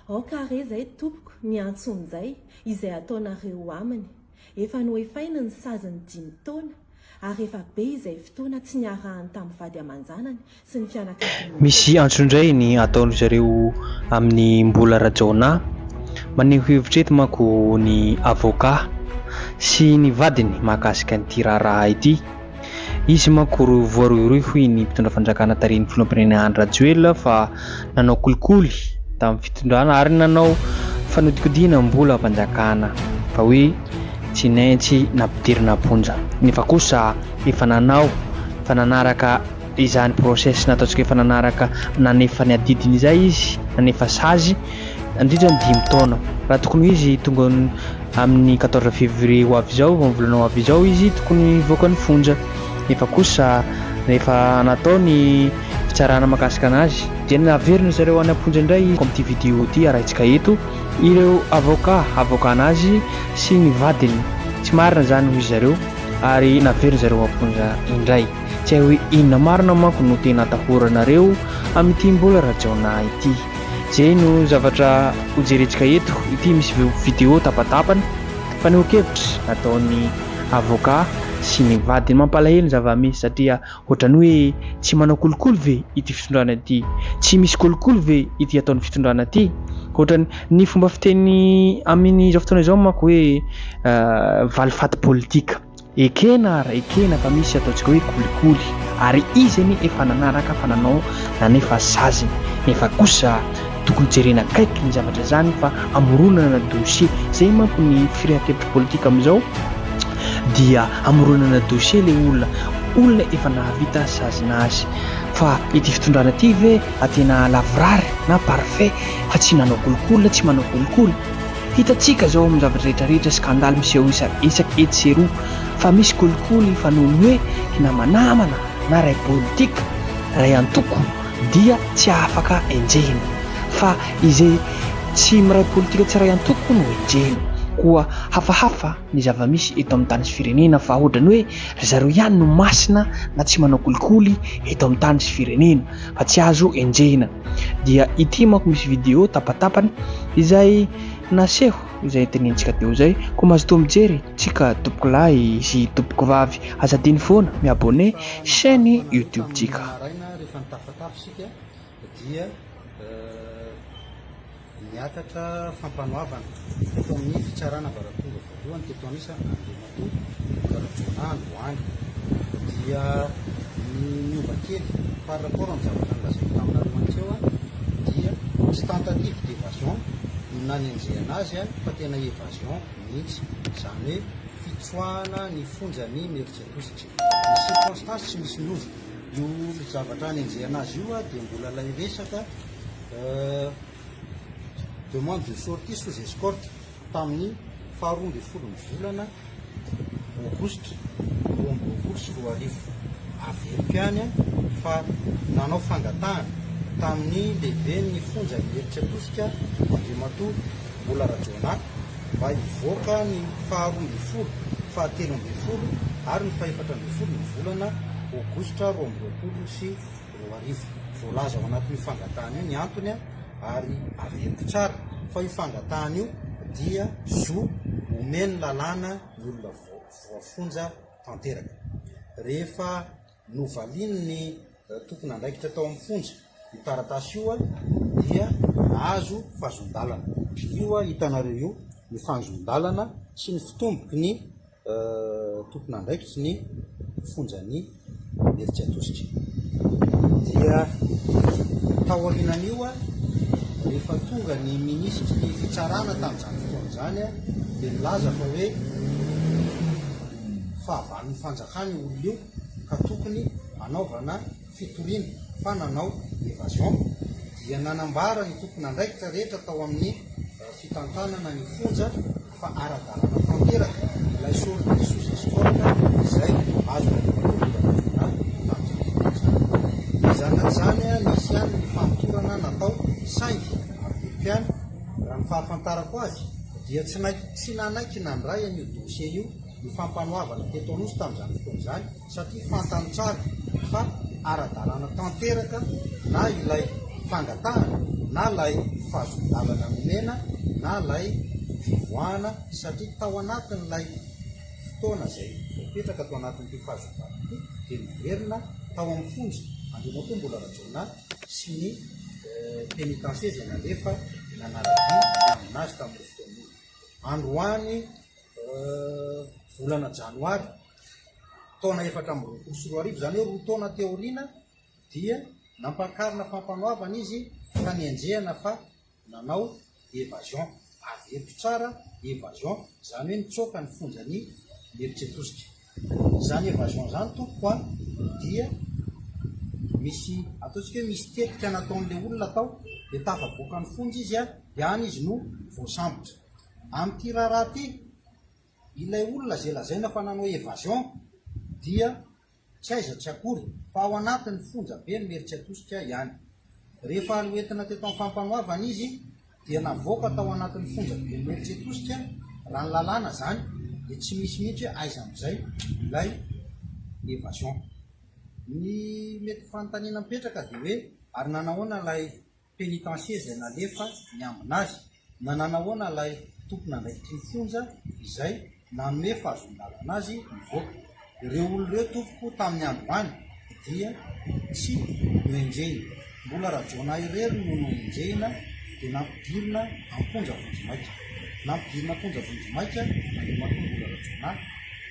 Aoka re izay tompoko miantso amin'izay izay ataonareo aminy. Efa noefainy ny sazin'ny dimy taona ary efa be izay fotoana tsy niarahany tamin'ny vady aman-janany sy ny fianakaviany aman-jery. Misy antso indray ny ataon-dry zareo amin'i Mbola Rajaonah. Maneho hevitra eto manko ny avocat sy ny vadiny mahakasika an'ity raharaha ity. Izy manko voarohirohy hoy ny mpitondra fanjakana tarihin'ny filoham-pirenena Andry Rajoelina fa nanao kolikoly tamin'ny fitondrana ary nanao fanodikodiana mbola am-panjakana fa hoe tsy naintsy nampidirina am-ponja nefa kosa efa nanao fa nanaraka Dia izany process nataontsika efa nanaraka nanefa ny adidiny izay izy, nanefa sazy nandritra ny dimy taona. Raha tokony ho izy tonga amin'ny quatorze février ho avy izao, amin'ny volana ho avy izao izy tokony hivoaka ny fonja. Nefa kosa rehefa natao ny fitsarana mahakasika anazy, dia naverina ry zareo any am-ponja indray izy, amin'ity vidéo ity arahintsika eto ireo avoka havoaka anazy sy ny vadiny, tsy marina izany hoy ry zareo ary naverina ry zareo am-ponja indray. Tsy hay hoe inona marina manko no tena atahoranareo amin'ity mbola Rajaonah ity. Izay no zavatra hojerentsika eto. Ity misy vidéo tapatapany, fanehoan-kevitra nataon'ny avocat sy ny vadiny. Mampalahelo ny zava-misy satria ohatran'ny hoe tsy manao kolikoly ve ity fitondrana ity? Tsy misy kolikoly ve ity ataon'ny fitondrana ity? Ohatran'ny ny fomba fiteny amin'izao fotoana izao manko hoe valifaty politika. Ekena ary ekena fa misy ataontsika hoe kolikoly ary izy anie efa nanaraka fa nanao nanefa saziny nefa kosa tokony jerena akaiky ny zavatra izany fa amoronana dossier zay manko ny firehan-kevitra politika amin'izao dia amoronana dossier le olona olona efa nahavita sazina azy fa ity fitondrana ity ve tena lavorary na parfait fa tsy nanao kolikoly na tsy manao kolikoly Hitantsika izao amin'ny zavatra rehetra rehetra scandale miseho isan-isaky etsy sy eroa fa misy kolikoly fa noho ny hoe hinamanamana na ray politika, ray antoko dia tsy afaka enjehina fa izay tsy miray politika tsy ray antoko no enjehina koa hafahafa ny zava-misy eto amin'ny tany sy firenena fa ohatrany hoe ry zareo ihany no masina na tsy manao kolikoly eto amin'ny tany sy firenena fa tsy azo enjehina dia ity manko misy vidéo tapatapany izay naseho izay ntenenintsika teo izay ko mazotoa mijery tsika tompoko lahy sy tompoko vavy aza adino foana mi abonné chaîne youtube tsika Niakatra fampanoavana teto amin'ny fitsarana ambaratonga voalohany teto Anisa Andriamatoa Luc Rajaonah androany. Dia ny niova kely par rapport amin'ny zavatra nolazaiko taminareo hantreo dia tsy tentative d'evasion no nanenjehana azy fa tena evasion mihitsy, izany hoe fitsoahana ny fonjan'i Imerintsiatosika. Ny circonstance tsy misy niova. Io zavatra hanenjehana azy io dia mbola ilay resaka. demande de sortie sous escorte tamin'ny faha roa ambin'ny folon'ny volana aogositra roa amby roapolo sy roa arivo. Averiko ihany fa nanao fangatahana tamin'ny lehiben'ny fonja ny Meritra Tosika Andriamatoa Bola Rajaonah mba hivoaka ny faha roa ambin'ny folo, fahatelo ambin'ny folo ary ny fahefatra ambin'ny folo ny volana aogositra roa amby roapolo sy roa arivo. Voalaza ao anatin'io fangatahana io ny antony ary averiko tsara fa io fangatahana io dia zo omen'ny lalàna ny olona voafonja tanteraka. Rehefa novalian'ny tompon'andraikitra tao amin'ny fonja io taratasy io dia nahazo fahazon-dalana. Io hitanareo io ny fahazon-dalana sy ny fitomboky ny. tompon'andraikitry ny fonjan'i Imerintsiatosika dia taorianan'io rehefa tonga ny minisitry ny fitsarana tamin'izany fotoana izany dia nilaza fa hoe fahavalon'ny fanjakana io olona io ka tokony hanaovana fitoriana fa nanao évasion dia nanambara ny tompon'andraikitra rehetra tao amin'ny fitantanana ny fonja fa ara-dalàna tanteraka ilay solika ny sous escorte izay azony avy amin'ny Filoha Nasionaly tamin'izao fotoana izao. Mizàna an'izany, nisy ihany ny famotorana natao saingy avy ny mpihaino, raha ny fahafantarako azy, dia tsy nanaiky nandray an'io dossier io ny Fampanoavana teto Anosy tamin'izany fotoana izany, satria fantany tsara fa ara-dalàna tanteraka na ilay fangatahana na ilay fahazon-dalana nomena na ilay fivoahana satria tao anatin'ilay fotoana izay voapetraka tao anatin'ity fahazon-dalana ity dia niverina tao amin'ny fonja Andriamatoa Mbola Rajaonah sy ny pénitencier izay nalefa nanara-dia ny hanina azy tamin'io fotoana io. Androany volana janoary taona efatra amby roapolo sy roa arivo, izany hoe roa taona teo aoriana dia nampakarina fampanoavana izy ka nenjehana fa nanao evasion, avy eto tsara evasion, izany hoe nitsoaka ny fonjan'i Mieritsetosika. Izany evasion izany tompoko a, dia misy ataontsika hoe misy tetika nataon'ilay olona tao, dia tafavoaka ny fonja izy a, dia any izy no voasambotra. Amin'ity raharaha ity, Ilay olona izay lazaina fa nanao evasion dia tsy aiza tsy akory fa ao anatin'ny fonja be ny Meritsiatosika ihany. Rehefa noentina teto amin'ny fampanoavana izy dia navoaka tao anatin'ny fonja ben'ny Meritsiatosika raha ny lalàna izany dia tsy misy mihitsy aiza amin'izay ilay evasion. Ny mety fanontaniana mipetraka dia hoe ary nanahoana ilay pénitencier izay nalefa niambina azy na nanahoana ilay tompon'andraikitry ny fonja izay nanome fahazoan-dalana azy nivoaka. Ireo olona ireo tompoko tamin'ny androany dia tsy noenjehina. Mbola Rajaonah irery no noenjehina dia nampidirina am-ponja vonjimaika. Nampidirina am-ponja vonjimaika nandriamatoa Mbola Rajaonah.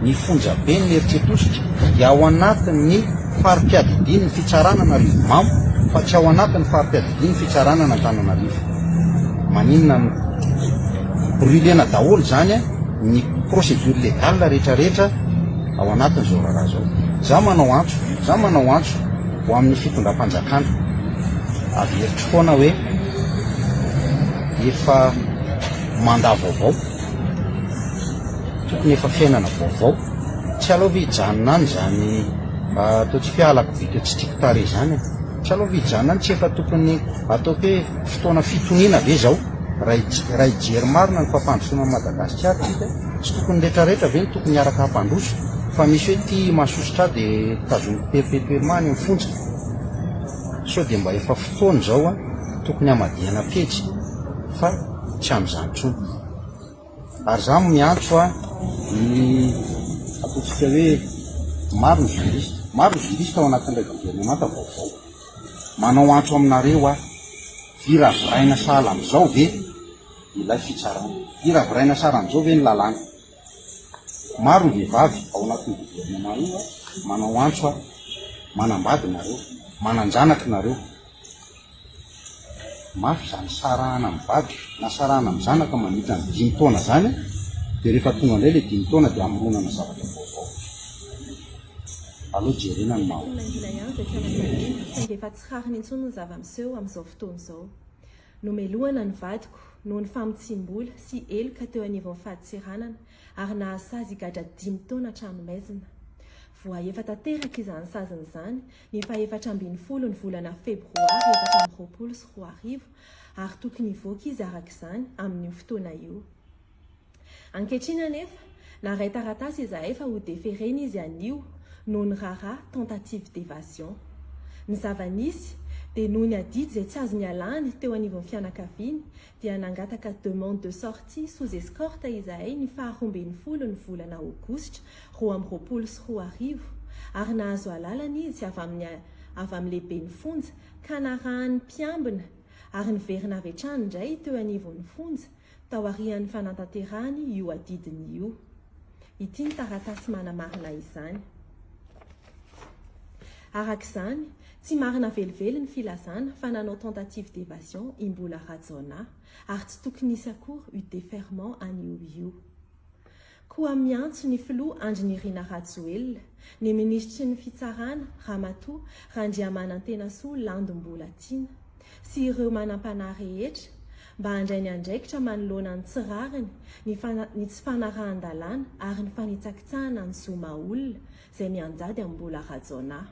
Ny fonjaben'ny Eritretositra dia ao anatin'ny fari-piadidian'ny fitsaran'Anarivomamo fa tsy ao anatin'ny fari-piadidian'ny fitsaranan'Antananarivo. Maninona no brûlena daholo izany ny procédure légale rehetrarehetra ao anatin'izao raharaha izao? Izaho manao antso, izaho manao antso ho amin'ny fitondram-panjakana. Averiko foana hoe efa mandat vaovao. tokony efa fiainana vaovao. Tsy aleo ve hijanona any izany atao tsy fialako vita tsy tiako tarehy izany? Tsy aleo ve hijanona any? Tsy efa tokony ataoko hoe fotoana fitoniana ve izao? Raha hij- raha hijery marina ny fampandrosoana an'i Madagasikara isika, tsy tokony rehetrarehetra ve no tokony hiaraka hampandroso? Fa misy hoe ity mahasosotra ahy dia tazomiko perpetuellement any amin'ny fonja. Sao dia mba efa fotoana izao an, tokony hamadihana pejy fa. tsy amin'izany intsony. Ary izaho no miantso ny ataontsika hoe maro ny juriste, maro ny juriste ao anatin'ilay governemanta vaovao. Manao antso aminareo aho, hiraviraina sahala amin'izao ve ilay fitsarana? Hiraviraina sahala amin'izao ve ny lalàna? Maro ny vehivavy ao anatin'io gouvernement io manao antso aho, manambady nareo, manan-janaka nareo. Mafy izany sarahana amin'ny vady na sarahana amin'ny zanaka mandritra ny dimy taona izany dia rehefa tonga indray ilay dimy taona dia amoronana zavatra vaovao. Aleo jerena ny maha olona. Saingy efa tsy rariny intsony ny zava-miseho amin'izao fotoana izao. Nomelohana ny vadiko noho ny famotsiam-bola sy heloka teo anivon'ny fadintseranana ary nahasazy higadra dimy taona an-tranomaizina. Voahefa tanteraka izany saziny izany ny fahefatra ambin'ny folo ny volana febroary efatra amby roapolo sy roa arivo ary tokony hivoaka izy araka izany amin'io fotoana io. Ankehitriny anefa, naharay taratasy izahay fa ho deferena izy anio noho ny raharaha tentative d'évasion. Ny zava-nisy dia noho ny adidy izay tsy azo nialany teo anivon'ny fianakaviany dia nangataka demande de sortie sous escorte izahay ny faha roa ambin'ny folo ny volana aogositra roa amby roapolo sy roa arivo ary nahazo alalana izy avy amin'ny avy amin'ny lehiben'ny fonja ka narahan'ny mpiambina ary niverina avy hatrany indray teo anivon'ny fonja taorian'ny fanantanterahany io adidiny io. Ity ny taratasy manamarina izany. Araka izany, tsy marina velively ny filazana fa nanao tentative d'évasion i Mbola Rajaonah, ary tsy tokony hisy akory io déferment an'io io. Koa miantso ny filoha Andry Nirina Rajoelina, ny minisitry ny Fitsarana, Ramatoa Randriamanantenasoa Landy Mbolatiana, sy ireo manampanahy rehetra, mba handray ny andraikitra manoloana ny tsy rariny, ny ny tsy fanarahan-dalàna ary ny fanitsakitsahana ny zo maha-olona, izay mianjady amin'ny mbola Rajaonah.